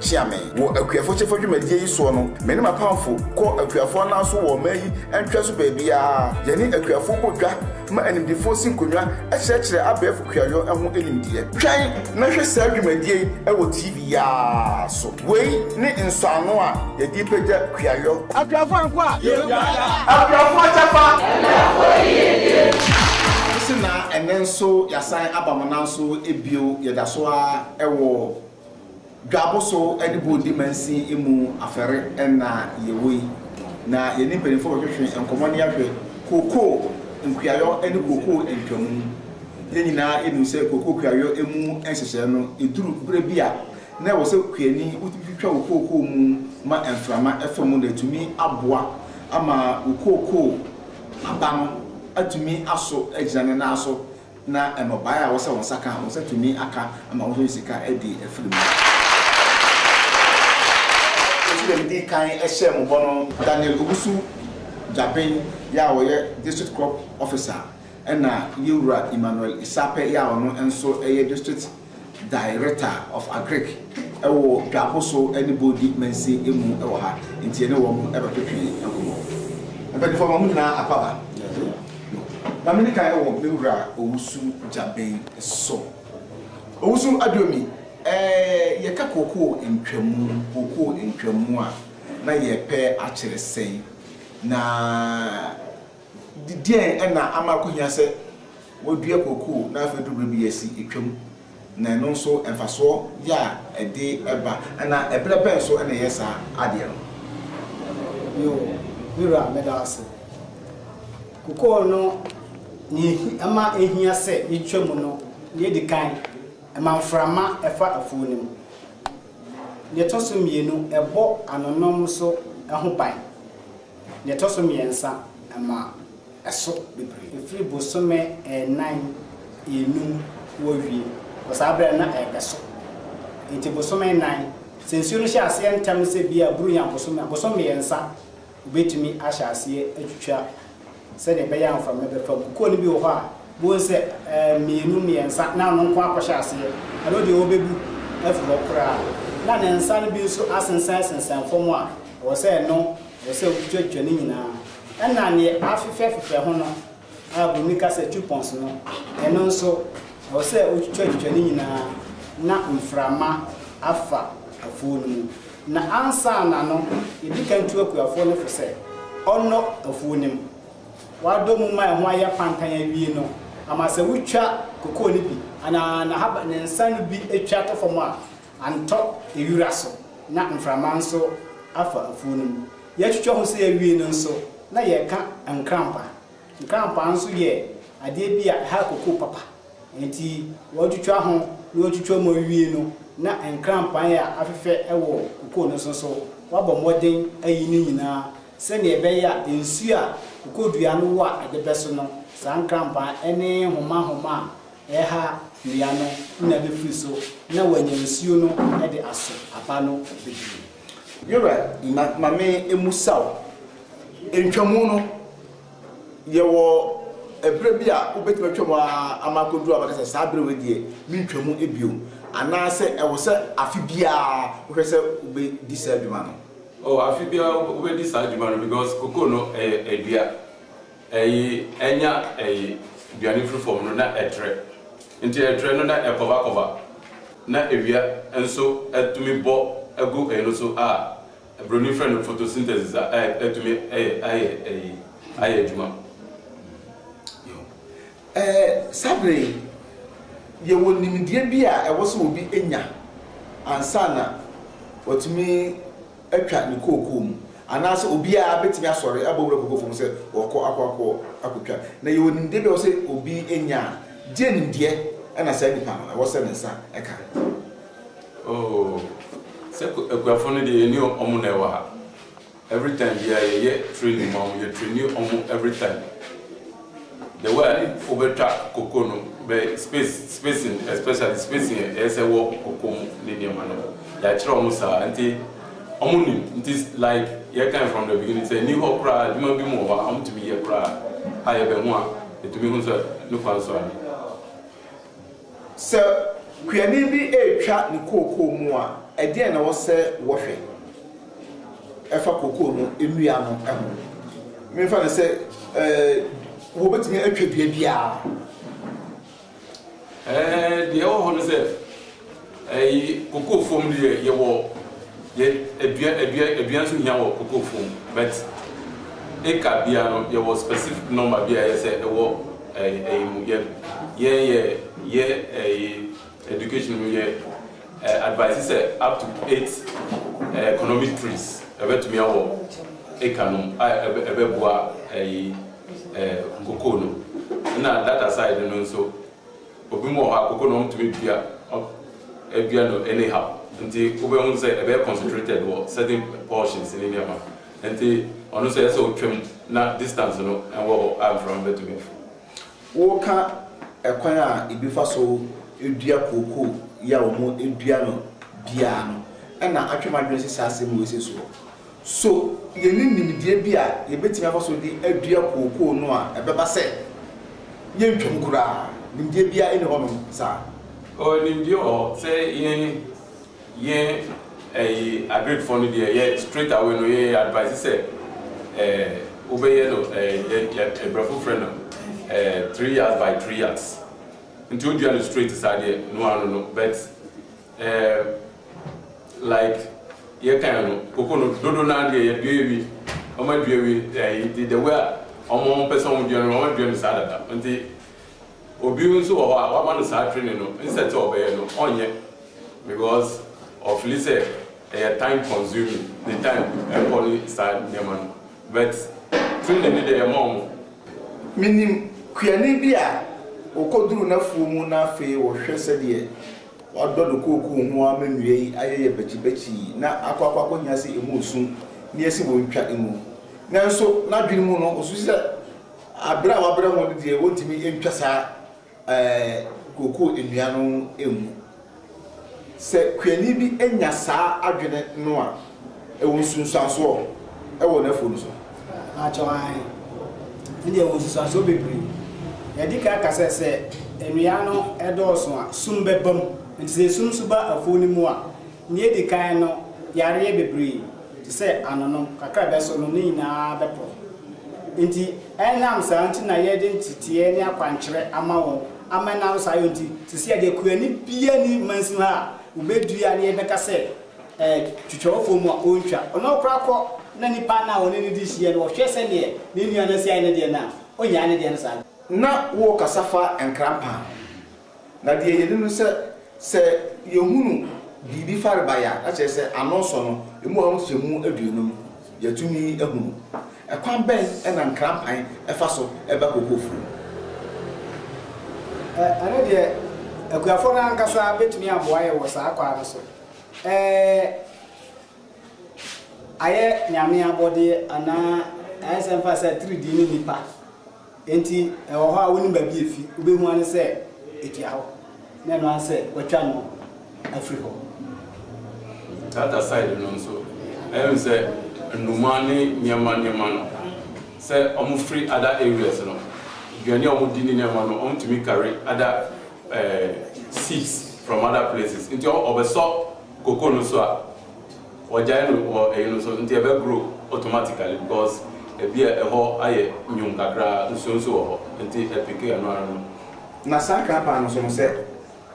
Kyea me. Wɔ akuafo kyɛfa dwumadie yi soɔ no, me ne m'apamfo kɔ akuafo anan so wɔ ɔman yi ntwea so baabiara. Yɛne akuafo bɔ dwa ma animdefoɔ si nkonnwa kyerɛkyerɛ abɛɛfo kuayɔ ho nimdeɛ. Twɛn na hwɛ saa dwumadie yi wɔ TV yi ara so. Wei ne nsɔano a yɛde repagya kuayɔ. Akuafo anko a. Yɛkuada. Akuafo kyɛfa. Akuafo yiedie. Wo se na ɛnɛ nso yɛasan aba mo nan so bio, yɛda so ara wɔ. Dwabo so ne bɔ di mansin mu afɛre nna a yɛwɔ yi, na yɛne mpanyimfo bɛtwetwe nkɔmmɔ ne ahwɛ kookoo nkuayɔ ne kookoo ntwamu. Yɛn nyinaa nim sɛ kookoo kuayɔ mu nhyehyɛe no, eduru bere bi a, na ɛwɔ sɛ kuani wotumi twitwa wo kookoo mu ma mframa fa mu na atumi aboa ama wo kookoo aba no atumi aso agyina ne nan so. na nnɔbaeɛ a wɔsɛ wɔn nsa ka a, wɔn nsa tumi aka ma wɔn nso de sika adi afiri mu. Nso deɛ medii kan hyɛɛ mo bɔ no, Daniel Owusu Gyabeng yɛ a ɔyɛ District Crop Officer ɛna Yewura Emmanuel Isapɛ yɛ a ɔno nso yɛ District Director of Agric wɔ Dwakoso ne Bodi Mansin mu wɔ ha nti yɛne wɔn bɛtwetwe nkɔmmɔ. Mpanyinfoɔ ma mo nyinaa akwaba no. Ma me di kan wɔ me wura Owusu Gyabɛn so. Owusu Aduomi, yɛka kookoo ntwamu, kookoo ntwamu a na yɛpɛ akyere sɛn? Na. Deɛn na ama ɛkɔhia sɛ wɔdua kookoo na afei aduru berɛ bi yɛasi atwam, na ɛno nso mfasoɔ yɛ a ɛde ba anaa ɛberɛ bɛn nso na ɛyɛ saa adeɛ no? Bio, me wura meda wo ase. Kookoo no nea ɛma ɛhia sɛ yɛtwa mu no, deɛ ɛdi kan ɛma mframa ɛfa afuo no mu. Deɛ ɛtɔ so mmienu ɛbɔ anonom nso ho ban. Nea ɛtɔ so mmiɛnsa, ɛma ɛso bebree. Ɛfiri bosome nnan, nnum wɔwie wɔ saa berɛ no na ɛrebɛso. Enti bosome nnan, sɛ nsuo no hyɛ aseɛ ntɛm sɛ ebia aburo nya bosome a, bosome mmiɛnsa wɔbɛtumi ahyɛ aseɛ atwitwa Sɛdeɛ ɛbɛyɛ a mframa bɛfa mu. Kɔɔ no bi wɔ hɔ a, bohu sɛ mmienu, mmiɛnsa, na ɔno nko akɔhyɛ aseɛ. Ɛno deɛ ɔbɛbu afiri hɔ koraa. Na ne nsa no bi nso asensɛn sensɛn fam a, ɛwɔ sɛ ɛno, ɛwɔ sɛ wotwitwatwitwa ne nyinaa. Ɛna deɛ afefɛ afefɛ ho no a Buroni ka sɛ coupons no, ɛno nso, ɛwɔ sɛ wotwitwatwitwa ne nyinaa na mframa afa afuo no mu. Na ansaana no, yɛdi kan tu akuafoɔ no fo sɛ ɔnnɔ afuo no mu. Wɔadɔ mu ma ɛho ayɛ pantan awie no, ama sɛ wotwa kokoo no bi anaa n'ahaba, ne nsa no bi twa to fam a, antɔ ewira so na mframa nso afa afuo no mu. Yɛtwitwa ho sei awie no nso, na yɛka nkrampa. Nkrampa nso yɛ adeɛ bi a ɛha kokoo papa. Enti wɔtwitwa ho na wɔtwitwa mu awie no na nkranpan a afefɛ wɔ kokoo no so nso wɔabɔ mmɔden ayi ne nyinaa sɛnea ɛbɛyɛ a nsu a kokodua no wɔ a ɛde bɛso no saa nkranpan ne nhomahoma a ɛha nnua no nyinaa bɛfiri so na wɔanya nsuo no de aso aba no bebree. Yora, na ma me mmusa wo, ntwamu no Yɛwɔ ɛberɛ bi a wobɛtumi atwa mu ara ama akɔduru a wobɛka sɛ, saa berɛ wei deɛ, mentwa mu bio. Anaasɛ ɛwɔ sɛ afe biara wohwɛ sɛ wobɛdi saa dwuma no? Oh, afe biara wobɛdi saa dwuma no because cocoa no ɛyɛ adua. Ɛye, ɛnya ɛye aduane firi fam no na ɛtrɛ. Nti ɛtrɛ no na ɛkɔvakɔva na awia nso tumi bɔ gu ɛye no so a, Broni frɛ no photosynthesis a atumi ayɛ ayi ayɛ adwuma. Ɛɛ saa bere yi, yɛwɔ nimdeɛ bi a ɛwɔ sɛ obi nya ansa na watumi atwa ne kookoo mu, anaasɛ obiara betumi asɔre abɔ wura kookoo fam sɛ ɔrekɔ akɔ akɔ akotwa. Na yɛwɔ nimdeɛ bi a ɛwɔ sɛ obi nya a, gye nimdeɛ na saa nipa no ɛwɔ sɛ ne nsa ka. Oh sɛ akuafo no deɛ yɛne ɔmo na ɛwɔ ha every time biaa yɛyɛ training ma ɔmo yɛ traini ɔmo every time the way a wobɛtwa koko no bɛ space spacing especially spacing ɛyɛ sɛ wɔ koko mu ne nneɛma no yɛakyerɛ ɔmo saa nti ɔmo nim nti like yɛkan from the beginning sɛ ni hɔ koraa adwuma bi mu wɔ hɔ a ɔmo tumi yɛ koraa a yɛbɛho a ɛtumi ho sɛ ne kwan so a Sɛ kuani bi retwa ne kookoo mu a, ɛdeɛn na ɛwɔ sɛ wɔhwɛ fa kookoo no nnua no ho? Memfa no sɛ wɔbɛtumi atwa dua biara. Deɛ ɛwɔ hɔ ne sɛ. Ɛyi cocoa fam deɛ yɛwɔ yɛ adua adua aduan nso hia wɔ cocoa fam but acre bia no yɛwɔ specific number bi a yɛ sɛ ɛwɔ ɛɛ ɛyi mu yɛ yɛn yɛ yɛ ɛyi education mu yɛ ɛɛ advice sɛ up to eight ɛɛ economic trees ɛbɛtumi awɔ acre no a ɛbɛ ɛbɛboa ɛyi ɛɛ cocoa no ɛna that aside no nso. Obi mu wɔ hɔ a koko na wɔn tumi dua dua no any how nti wobɛ hu sɛ ɛbɛyɛ concentrated wɔ certain portions ne nneɛma nti ɔno nso ɛyɛ sɛ otwa mu na distance no ɛwɔ hɔ a mframa bɛtumi afu. Woka ɛkwan a ebi fa so dua koko yi a wɔn dua no biara no ɛna atwe m'adwene si saa asɛm wei sesoɔ. So yenni nimdeɛ bi a yebetumi afa so de adua kookoo no a ɛbɛba sɛ yentwam koraa? Nimdeɛ biara nni hɔnom saa. O, nimdeɛ wɔ hɔ sɛ yɛn, yɛn ɛyi Agirikfoɔ no deɛ yɛ straight away no yɛ advise sɛ ɛɛ wobɛyɛ no ɛɛ yɛ yɛ Abrɔfo frɛ no ɛɛ three yards by three yards. Nti wodua no straight saa deɛ noa no no but. Ɛɛ like yɛ kan no koko no dodo naa deɛ yɛ dua ewi ɔmo adua ewi ɛyi de the way a ɔmo ɔmo pɛ sɛ ɔmo dua no ɔmo adua no saa dada nti obi nso wɔ hɔ a wama no saa training no nsɛt sɛ ɔbɛyɛ no ɔnyɛ because ɔfili sɛ ɛyɛ time consuming ne time ɛkɔ ne saa nneɛma no but training no deɛ yɛ ma ɔmo. Menim kuani bi a ɔkɔduruu n'afuo mu na afei ɔhwɛ sɛdeɛ Wɔadodɔ do kookoo ho ara ma ndua yi ayɛ yɛ bɛkyebɛkyee na akɔ akɔ akohia sɛ emu osu na yɛse wontwa ngu. Nanso n'adwen mu no, osusu sɛ aber a wɔabrɛ hɔn no deɛ wontumi ntwa saa kookoo ndua no ngu. Sɛ kuanyi bi nya saa adwen no a, Ɛwɔ nsunsuansoɔ wɔ n'afuo no so. Mpakyɛw, aane. Ɛnde ɛwɔ nsunsuansoɔ bebree. Deɛ ɛdi kan ɛka sɛ, sɛ nnua no dɔɔso a, sum bɛba mu. Nti sɛ sum nso ba afuo no mu a, nea edi kan no, yareɛ bebree te sɛ anonom, kakra a ɛbɛso no, ne nyinaa bɛporɔ. Nti ɛnam saa nti na yɛde nteteɛ ne akwankyerɛ ama wɔn, ama ɛnam saa yɛ nti, seesei deɛ kuani biara nni mansin hɔ a wɔbɛdua na yɛbɛka sɛ, Twitwawfo mu a ontwa. Ɔno ɔkora kɔ na nipa no a ɔne no di hyiɛ no ɔhwɛ sɛdeɛ ne nua no asi ayɛ ne deɛ no a, ɔnyaa ne deɛ no saa. Na worekasa fa nkrampa ho. Na deɛ yɛnim no sɛ, sɛ yɛhunu biribi farebae a, na kyerɛ sɛ ano nsɔ no, ɛmu a nkyɛmu aduonum, yɛatumi ahunu. Ɛkwan bɛn na nkrampan fa so ba kokofuo mu? Ɛno deɛ, akuafoɔ no ara ankasa bɛtumi aboa yɛn wɔ saa kwan no so. Ɛɛ, ayɛ Nyame abɔdeɛ anaa ayɛ sɛ mfa sɛ atiridii ne nnipa nti ɛwɔ hɔ a wonim baabi efi, wobɛhu ara ne sɛ ɛtua hɔ na ɛno ara ne sɛ wɔatwa no afiri hɔ. The other side no nso, ɛhu sɛ nnomaa ne nneɛma nneɛma no, sɛ wɔfiri other areas no, aduane a wɔdi ne nneɛma no, wɔtumi carry other seeds from other places nti ɔbɛsɔ cocoa no so a ɔgyae no wɔ ɛyi no so nti ɛbɛ grow automatically because ɛbi a ɛhɔ ayɛ nwom kakraa nsuo nso wɔ hɔ nti ɛpeke ɛno ara no. Na saa krapaa no nso no sɛ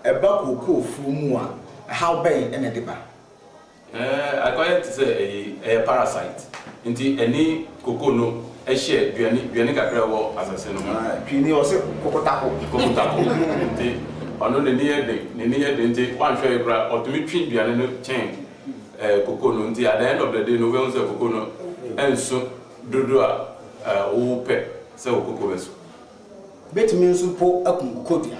ɛba cocoa fuo mu a ɛhaw bɛn na ɛde ba? Akɔyɛ te sɛ ɛyi, ɛyɛ parasite. Nti ɛne cocoa no hyɛ duane, duane kakra a ɛwɔ asase no ho. Twi no yɛ ɔse kokotako. Kokotako. Nti ɔno n'ani yɛ den, n'ani yɛ den nti woanhwɛ yɛ koraa ɔtumi twe duane no kyɛn cocoa no. Nti at the end of the day no wobɛhu sɛ cocoa no ɛnso dodoɔ a wopɛ sɛ wo cocoa bɛso. Bɛtumi nso mpo aku cocoa dua no.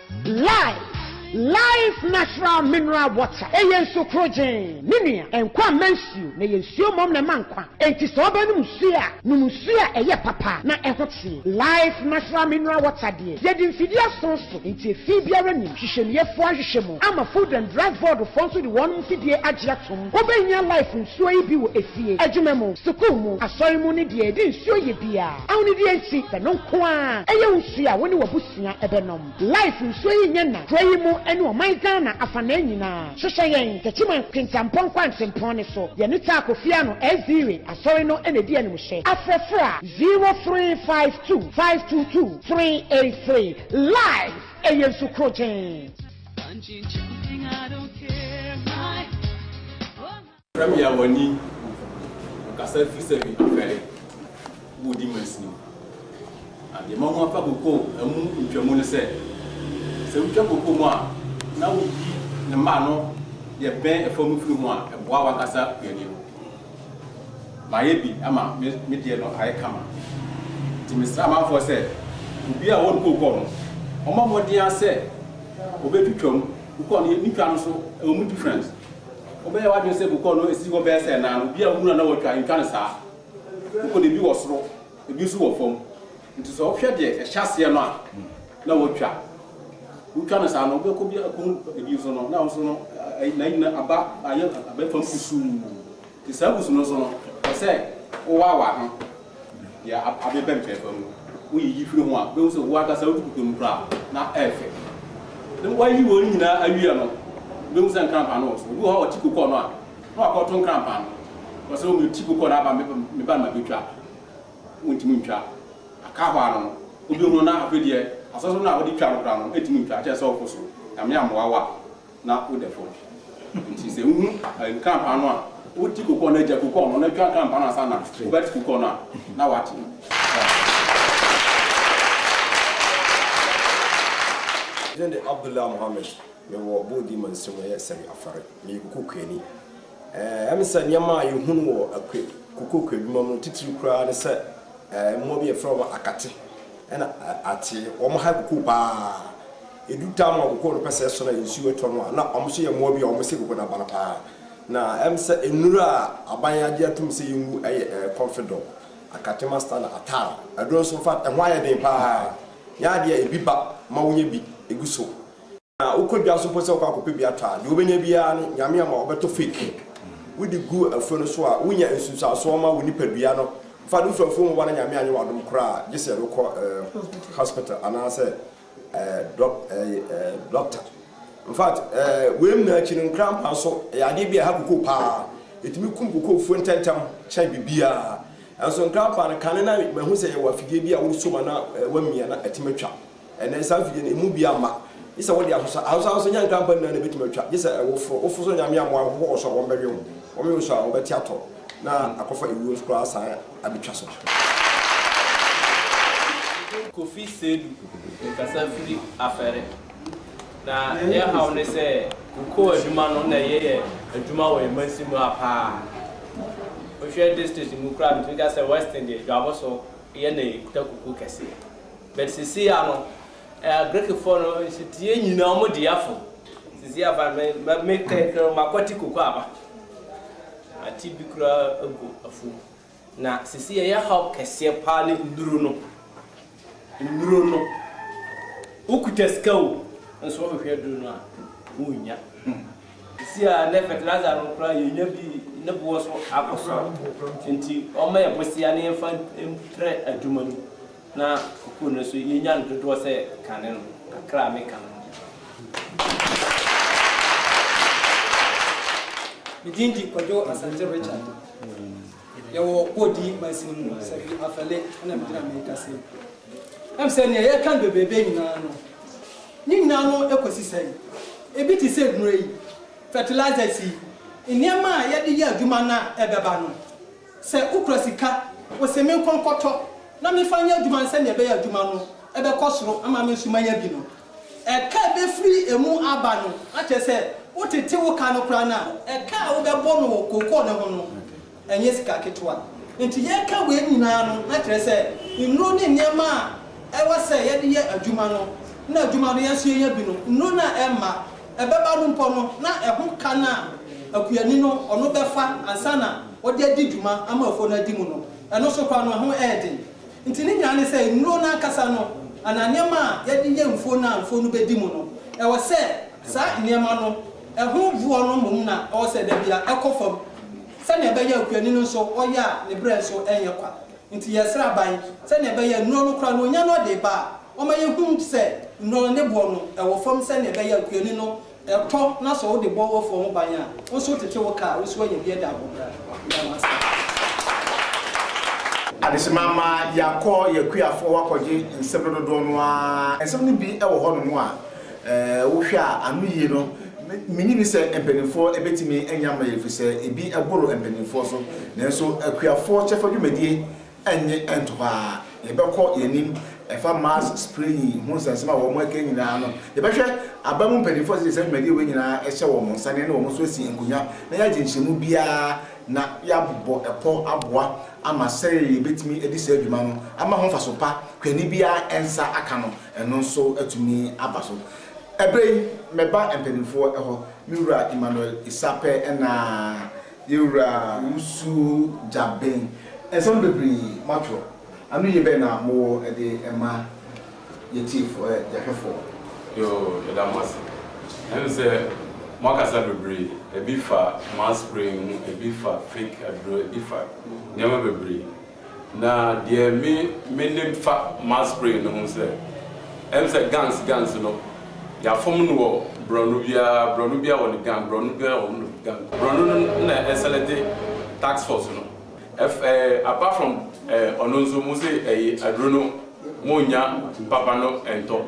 Life, Life Natural Mineral Water, Ɛyɛ nsu korogyenn, ne nua, nkwa mma nsuo, na ɛyɛ nsuo mmom na ɛma nkwa. Enti sɛ wobɛnom nsuo a, nom nsuo a ɛyɛ papa na ɛho teɛ. Life Natural Mineral Water deɛ, yɛde mfidie ason so, enti efi biara nnim. Hwehwɛmueɛfoɔ ahwehwɛ mu ama Food and Drug Board foɔ nso de wɔn mfidie agye atom. Wobɛhia Life nsuo yi bi wɔ efie, adwuma mu, sukuu mu, asɔre mu ne deɛ yɛde nsuo yɛ biara. Aho ne deɛ enti, ɛno nko ara ɛyɛ wo nsuo a wo ne w'abusua. nea ɔbɛnom. Life nsuo yi nyɛ na kuro yi mu ɛne ɔman Ghana afanaa nyinaa. Hwehwɛ yɛn Techiman Kintampo Kwankyempɔn no so. Yɛne Taa Kofi Ano Aziire Asɔre no na ɛdi animhyɛ. Afrɛ fra zero three five two five two two three eight three. Life ɛyɛ nsu krogyenn. Frɛ me a w'ani gu po mu. Ɔkasa firi sɛ me afɛre wodi mansini. Na deɛ mahu afa kokoo mu ntwamu ne sɛ, sɛ wotwa kokoo mu a na woyi ne mmaa no deɛ bɛn ɛfam no firi ho a, ɛboa w'ankasa w'ani no. Mayɛ bi ama me me deɛ no ayɛ kama. Nti mesrɛ amanfoɔ sɛ, obiara a ɔwɔ ne kokoo no, ɔmmɔ mmɔden ara sɛ ɔbɛtwitwa mu. Kokoo no, ne twa no nso, ɛwɔ mu difference. Wobɛyɛ w'adwene sɛ bokɔɔ no si hɔ bɛyɛ sɛ nã no, obiara hunu a na watwa ntwa no saa. Bokɔ no ebi wɔ soro, ebi nso wɔ fam. Nti sɛ wohwɛ deɛ ɛhyɛ aseɛ no a na watwa. Wotwa no saa no, wobɛkɔ bi akɔhu ebi nso no na nso no n'ayi no aba ayɛ abɛfam kusuu. Te saa abusu no so no, ɛsɛ sɛ wowaawa ho yɛ ade pɛmpɛɛpɛ mu. Woyiyi firi ho a, wobɛhu sɛ wo ankasa wotu kutoo mu koraa na ɛyɛ fɛ. Na woayi wɔn nyinaa awie no, wobɛhu sɛ nkrampa no wɔ so. Obi wɔ hɔ a ɔte kokɔ no a, na wakɔto nkrampa no. Ɔsɛ sɛ wɔte kokɔ no a, aba me ba no ma bɛtwa. Wontumi ntwa. Aka hɔ ara no, obi ho na afei deɛ asɔsɔ no a wode twa no koraa no, ɛntumi ntwa. Ɛkyerɛ sɛ ɔpo so. Nyame ammoa wo a, na wodɛ fam. Ntsi sɛ ihu nkrampaa no a, wotsi kukɔɔ no, egya kukɔɔ no na etwa nkrampaa no ansaana wobɛtse kukɔɔ no a, na wɔakye no. Me din de Abdullah Mohammed, mewɔ Bodi Mansin mu, ɛyɛ Sari Afare. Meyɛ kuku kuani. Ɛyɛ me sɛ nneɛma a yɛhunu wɔ kokooko adwuma mu no titiriw koraa ne sɛ mmoa bi a yɛfrɛ wɔn akate na ate, wɔn ha kokooko pa ara. Edu time a kokooko no pɛ sɛ ɛsɔ na nsu retɔ no a, na wɔn nso yɛ mmoa bi a wɔsɛ kokooko no aba no pa ara. Na ɛyɛ me sɛ nnuru a aban agye atom sɛ yengu yɛ kɔnfedɔl, akate masta na atar. Aduro nso, in fact, ɛho ayɛ den pa ara. Nyɛ ade a ebi ba ma wonya bi gu so. Na wokɔ dwa so mpo sɛ wokɔ akɔpɛ bi atɔ a, deɛ wobɛnya biara no, Nyame ama wo. Wobɛtɔ fake. Wode gu afuo no so a, wonya nsunsuansoɔ ma wo nipadua no. In fact, wofiri afuo mu ba na Nyame anyɛ wo adom koraa a, gye sɛ yɛde wo kɔ eh, hospital anaasɛ eh, dɔk, eh, eh, doctor. In fact, eh, wei nyinaa akyi no, nkrampa nso, ɛyɛ adeɛ bi a ɛha kokoo paa. Ɛtumi kum kokoofuo ntɛntɛm kyɛn biribiara. Nanso nkrampa no, kane na mahu sɛ yɛwɔ afidie bi a wode som a na eh, woamia na atumi atwa. Ɛnnɛ, saa mfidie no, emu biara mma. Gye sɛ wode aso sa. Aso sa nso, ɛnyɛ nkrampa nyinaa na ɛbɛtumi atwa. Gye sɛ ɛwo foro. Woforo so nyame amoa a, wohohoro so a, wɔbɛwe wo. Wɔwe wo so a, wobɛte atɔ na akɔfa ewuo nso koraa asan abɛtwa so. Kofi Seidu rekasa firi Afɛre. Na yɛ haw ne sɛ kokoo adwuma no na yɛyɛ adwuma wɔ yɛn mansin mu ha paa. Wohwɛ district mu koraa a, metumi ka sɛ Western deɛ Dwabo so yɛ na yɛkuta kokoo kɛseɛ. But sisiia no eh Greekfoɔ no nsuteɛ nyina ɔmo di afo sisiia fa me ma me kɛnkɛn makwati koko aba mate bi koraa agu afo mu na sisiia ɛyɛ haw kɛseɛ paa ne nnuro no nnuro no wo kuta sika o nso wo hwehwɛ aduro no a wo nnya sisiia nɛ fertilizer no koraa yɛ nya bi ne boɔ so akɔ soro nti ɔma yɛ bosea ne yɛnfa mprɛ adwuma no Na sukuu no nso yɛnya no dodoɔ sɛ kane no, kakra a meka no no. Me din de Kwadwo Asante Richard. Yɛwɔ Kodi Mansin mu, Safi Afɛle na me gyina merekasa yi. Ɛm sɛ nea yɛka no bebrebe nyinaa no, ne nyinaa no ɛkɔsi sɛ yi, ebi te sɛ nnuro yi, fertilizers yi, nneɛma a yɛde yɛ adwuma no a ɛbɛba no, Sɛ wokura sika, wose menkɔ nkɔtɔ na memfa nyɛ adwuma no sɛnea ɛbɛyɛ a adwuma no bɛkɔ soro ama me nso manya bi no, ɛka a ebefiri emu aba no akyerɛ sɛ wotete wo ka no koraa no a, ɛka a wobɛbɔ no wɔ kookoo no ho no, ɛnyɛ sika ketewa. Enti yɛka wei nyinaa no na kyerɛ sɛ nnuro ne nneɛma a ɛwɔ sɛ yɛde yɛ adwuma no na adwuma no yɛn nso yɛnya bi no, nnuro no a ɛmma ɛbɛba no mpo no, na ɛho ka no a akuani no ɔno bɛfa ansa na ɔde adi dwuma ama afuo no adi mu no, ɛno nso koraa no, ɛho yɛ den. Enti ne nyinaa ne sɛ, nnuro no ankasa no anaa nneɛma a wɔde yɛ mfuo no a mfuo no bɛdi mu no, ɛwɔ sɛ saa nneɛma no, ɛho boɔ no mmom na ɛwɔ sɛ da biara ɛkɔ fam sɛnea ɛbɛyɛ a akuani no nso ɔyɛ a ne berɛ nso renyɛ kwa. Enti yɛresrɛ aban sɛnea ɛbɛyɛ a nnuro no koraa no onya no ɔde reba a, wɔmma yɛhunu sɛ nnuro no ne boɔ no wɔ fam sɛnea ɛbɛyɛ a nkuani no tɔ na sɛ wode bɔ w'afuo ho ban a, wo nso wotete wo kaa a, wo nso woanya bi ada ahobrɛa. Meda mo ase. Adesemma mma yɛakɔ yɛn akuafoɔ hɔ akɔgye nsɛm no dodoɔ no ara. Nsɛm no bi wɔ hɔnom a. Wohwɛ a, anoyie no, mennye nni sɛ mpanimfoɔ bɛtumi anya ama yɛn, ɛfiri sɛ ebi boro mpanimfoɔ so. Nanso akuafoɔ kyɛfa dwumadie nnye nto hɔ ara. Yɛbɛkɔ yɛn anim. Ɛfa mask spraying ho nsɛnsɛm a wɔaka yi nyinaa no, yɛbɛhwɛ aba mu mpanimfoɔ a sɛdeɛ saa dwumadie wei nyinaa hyɛ wɔn nsa no, yɛne wɔn nso asi nkonnwa na yɛagye nkyerɛmu biara na yɛabɔ pɔ aboa ama sɛdeɛ yɛbɛtumi adi saa dwuma no ama ho mfaso pa, kane biara nsa aka no. Ɛno nso atumi aba so. Ɛberɛ yi, mɛba mpaninfoɔ hɔ, me Wura Emmanuel Issa pɛ na Yɛwura Wusu Gyabeng. Nsɛm bebree moatwerɛ. Anoyie bɛn na mowɔ de ma yɛtiefoɔ, yɛn hwɛfoɔ? Yoo, yɛda mo ase. Yɛahu sɛ moakasa bebree. Ɛbi fa mass praying ho, ɛbi fa fake aduro, ɛbi fa nneɛma bebree. Na deɛ me me nim fa mass spraying no ho sɛ ɛm sɛ guns guns no yɛafom no wɔ brɔno biara brɔno biara wɔ ne gun brɔno biara wɔ ne gun brɔno no na ɛselɛte tax force no ɛf ɛɛ apart from ɛɛ ɔno nso mo se ɛyi aduro no mo nya papa no ɛntɔ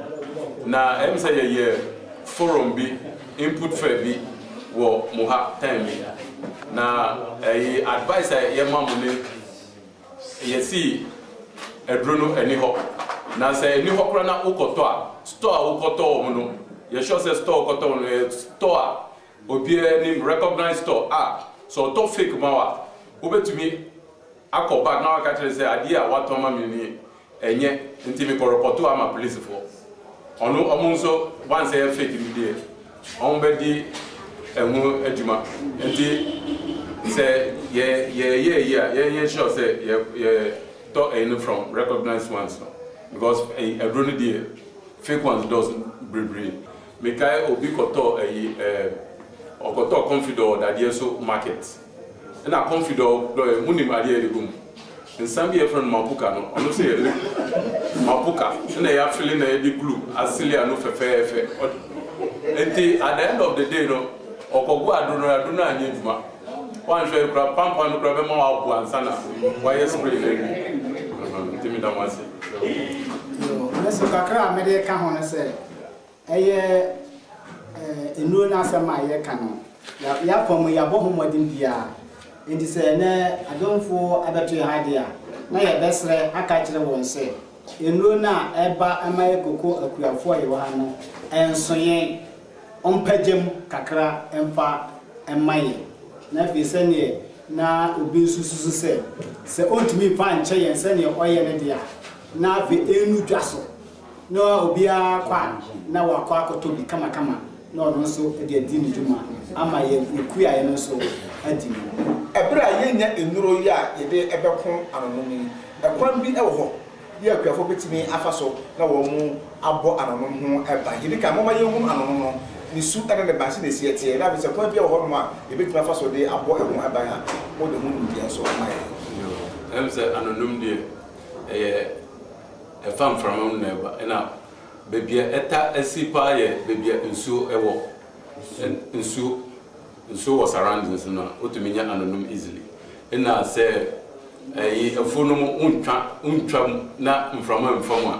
na ɛm sɛ yɛyɛ forum bi input fɛ bi wɔ mo ha time bi na ɛyi advice a yɛ ma mo ne yɛ si aduro no ɛni hɔ na sɛ ɛni hɔ kora na wokɔ tɔ a store a wokɔ tɔ wɔ mo no yɛ sure sɛ store wokɔ tɔ wɔ no yɛ store a obiara nim recognize store a sɛ ɔtɔ fake ma wa wobɛtumi akɔ back na waka kyerɛ sɛ adeɛ a watɔ ama me nie Ɛnyɛ nti me kɔ rɔpɔto ama polisi foɔ ɔno ɔmo nso one sɛ yɛ fake no deɛ ɔmo bɛ di ɛho adwuma nti sɛ yɛ yɛ yɛ ayi a yɛ yɛ sure sɛ yɛ yɛ tɔ ɛyi no from recognized ones no because ɛyi aduro no deɛ fake ones dɔɔso bebree me kae obi kɔ tɔ ɛyi ɛɛ ɔkɔ tɔ confidor wɔ dadeɛ so market. Nna Comfy dɔ dɔ yɛn. Monim adeɛ a yɛde gu mu? Nsa bi a yɛfrɛ no Mapuka no, ɔno nso yɛ lip Mapuka. Nna yɛafele na yɛde glue asili ano fɛfɛɛfɛ. Nti at the end of the day no, ɔkɔgo aduro no, aduro no anyɛ adwuma. Woanhwɛ yie koraa pampan no koraa bɛma woabow ansa na woayɛ spray no awie. Nti meda mo ase. Nso kakra a mede ka ho ne sɛ. Ɛyɛ nnuro no asɛm a yɛka no. Y'akwan mu y'abɔ ho mmɔden biara. Enti sɛ ɛnnɛ adomfo abɛto yɛn ho ade a, na yɛbɛsrɛ aka akyerɛ wɔn sɛ, nnuro no a ɛba ma yɛ koko akuafo a yɛwɔ ha no ɛnso yɛn. Wɔmpagya mu kakra mfa mma yɛn. Na afei sɛdeɛ na obi nso susu sɛ, sɛ ɔntumi mfa nkyɛ yɛn sɛdeɛ ɔyɛ no deɛ a, na afei ɛnnu dwa so. No a obiara kɔ a na wakɔ akɔtɔ bi kamakama na ɔno nso de adi ne dwuma ama yɛn ekuo a yɛn nso adi no. Ɛberɛ a yɛnnya nnuro yi a yɛde bɛko ano nom yi, ɛkwan bi wɔ hɔ bi a akuafoɔ bɛtumi afa so na wɔn abɔ ano nom ho ban? Yɛdi kan momma yɛnhunu ano nom no, ne su ne ne ban sɛdeɛ ɛsi ɛteɛ na afei sɛ kwan biara wɔ hɔ nom a yɛbɛtumi afa so de abɔ ɛho ban a, mode ho nimdeɛ nso ma yɛn. Ɛwom sɛ ano nom deɛ ɛyɛ. Ɛfa mframa mu na ɛba. Ɛna baabi a ɛta si paa yɛ baabi a nsuo wɔ. Nsuo nsuo wɔ surroundings no a wotumi nya anonom easily. Ɛna sɛ ɛyi afuo no mu wontwa wontwa mu na mframa mfa mu a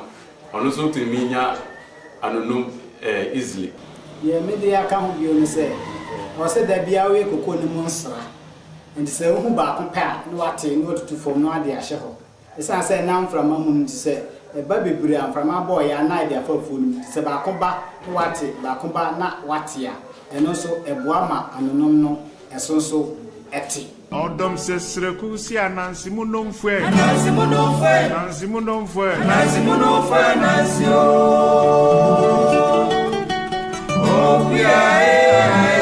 ɔno nso wotumi nya anonom easily. Deɛ me de aka ho bio ne sɛ ɛwɔ sɛ da biara woyɛ cocoa no mu nsra. Nti sɛ wohu baako pɛ a na wate na watutu fam na wode ahyɛ hɔ. Esiane sɛ na mframa mu no nti, sɛ ɛba bebree a mframa bɔɔ yɛn anan de afa afuo no mu nti, sɛ baako ba na wate, baako ba na wate a, ɛno nso ɛboa ma anonom no ɛso nso te. Ɔdɔm sɛ sreku se Ananse mu nnomfo ɛ. Ananse mu nnomfo ɛ. Ananse mu nnomfo ɛ. Ananse mu nnomfo ɛ Ananse o Okuya e ae